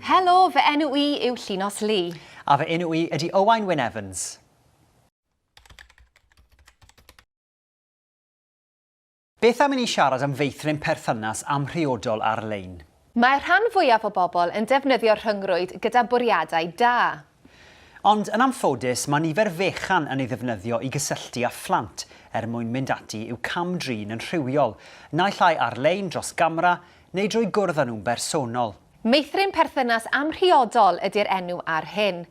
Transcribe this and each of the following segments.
Helo, fy enw i yw Llinos Lee. A fy enw i ydy Owain Wyn Evans. Beth am i ni siarad am feithrin perthynas amhriodol ar-lein? Mae'r rhan fwyaf o bobl yn defnyddio'r rhyngrwyd gyda bwriadau da. Ond yn anffodus, mae nifer fechan yn ei ddefnyddio i gysylltu â phlant er mwyn mynd ati i'w cam-drin yn rhywiol, naill ai ar-lein dros gamera neu drwy gwrdd â nhw'n bersonol. Meithrin perthynas amhriodol ydy'r enw ar hyn.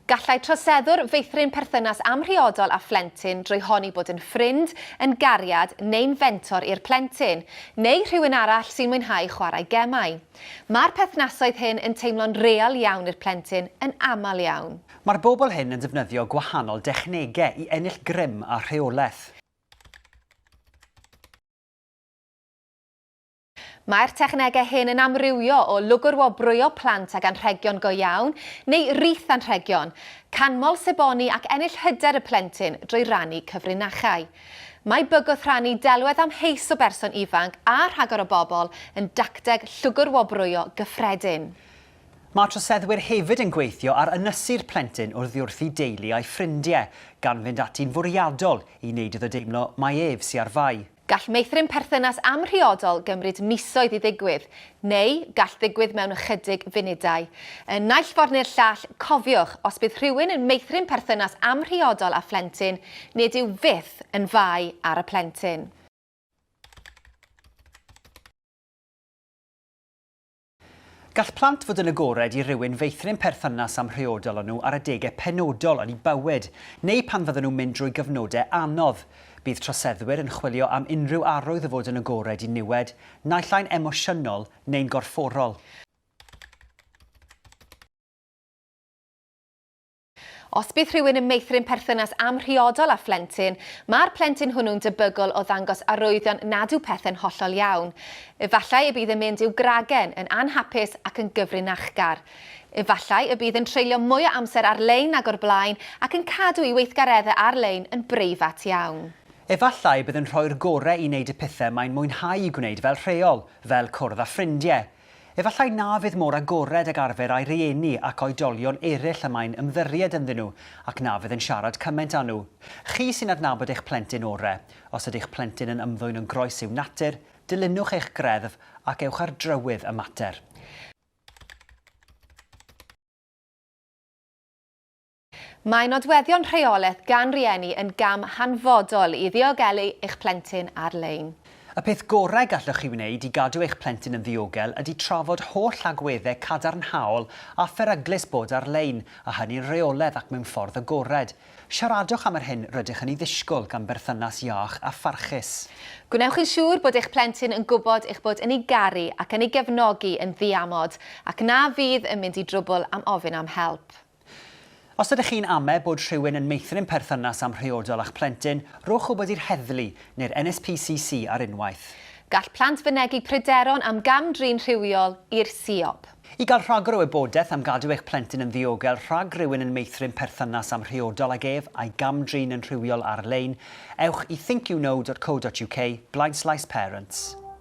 Gallai troseddwr feithrin perthynas amhriodol â phlentyn drwy honni bod yn ffrind, yn gariad neu'n fentor i'r plentyn, neu rhywun arall sy'n mwynhau chwarae gemau. Mae'r perthnasoedd hyn yn teimlo'n real iawn i'r plentyn yn aml iawn. Mae'r bobl hyn yn defnyddio gwahanol dechnegau i ennill grym a rheolaeth. Mae'r technegau hyn yn amrywio o lwgrwobrwyo plant ag anrhegion go iawn neu rith anrhegion, canmol seboni ac ennill hyder y plentyn drwy rannu cyfrinachau. Mae bygwth rhannu delwedd amheus o berson ifanc a rhagor o bobl yn dacteg lwgrwobrwyo gyffredin. Mae troseddwyr hefyd yn gweithio ar ynysu'r plentyn oddiwrthi deulu a'i ffrindiau, gan fynd ati'n fwriadol i wneud iddo deimlo mai ef sy ar fai. Gall meithrin perthynas amhriodol gymryd misoedd i ddigwydd, neu gall ddigwydd mewn ychydig funudau. Yn naill ffordd neu'r llall, cofiwch, os bydd rhywun yn meithrin perthynas amhriodol â phlentyn, nid yw fyth yn fai ar y plentyn. Gall plant fod yn agored i rywun feithrin perthynas amhriodol â nhw ar adegau penodol yn eu bywyd, neu pan fyddan nhw'n mynd drwy gyfnodau anodd. Bydd troseddwyr yn chwilio am unrhyw arwydd o fod yn agored i niwed, naill ai'n emosiynol neu'n gorfforol. Os bydd rhywun yn meithrin perthynas amhriodol â phlentyn, mae'r plentyn hwnnw'n debygol o ddangos arwyddion nad yw pethau'n hollol iawn. Efallai y bydd yn mynd i'w gragen, yn anhapus ac yn gyfrinachgar. Efallai y bydd yn treulio mwy o amser ar-lein nag o'r blaen ac yn cadw ei weithgareddau ar-lein yn breifat iawn. Efallai y bydd yn rhoi'r gorau i wneud y pethau mae'n mwynhau eu gwneud fel rheol, fel cwrdd â ffrindiau, Efallai na fydd mor agored ag arfer â'i rieni ac oedolion eraill y mae'n ymddirried ynddyn nhw ac na fydd yn siarad cymaint â nhw. Chi sy'n adnabod eich plentyn ore'. Os ydy'ch plentyn yn ymddwyn yn groes i'w natur, dilynwch eich greddf ac ewch ar drywydd y mater. Mae nodweddion rheolaeth gan rieni yn gam hanfodol i ddiogelu eich plentyn ar-lein. Y peth gorau gallwch chi wneud i gadw eich plentyn yn ddiogel ydy trafod holl agweddau cadarnhaol a pheryglus bod ar-lein, a hynny'n rheoledd ac mewn ffordd agored. Siaradwch am yr hyn rydych yn ei ddisgwyl gan berthynas iach a pharchus. Gwnewch yn siŵr bod eich plentyn yn gwybod eich bod yn ei garu ac yn ei gefnogi yn ddiamod, ac na fydd yn mynd i drwbl am ofyn am help. Os ydych chi'n ame bod rhywun yn meithrin perthynas amhriodol â'ch plentyn, rhowch wybod i'r heddlu neu'r NSPCC ar unwaith. Gall plant fynegi pryderon am gam-drin rhywiol i'r siop. I gael rhagor o wybodaeth am gadw eich plentyn yn ddiogel rhag rhywun yn meithrin perthynas amhriodol ag ef a'i gam-drin yn rhywiol ar-lein, ewch i thinkyouknow.co.uk blaenslaes parents.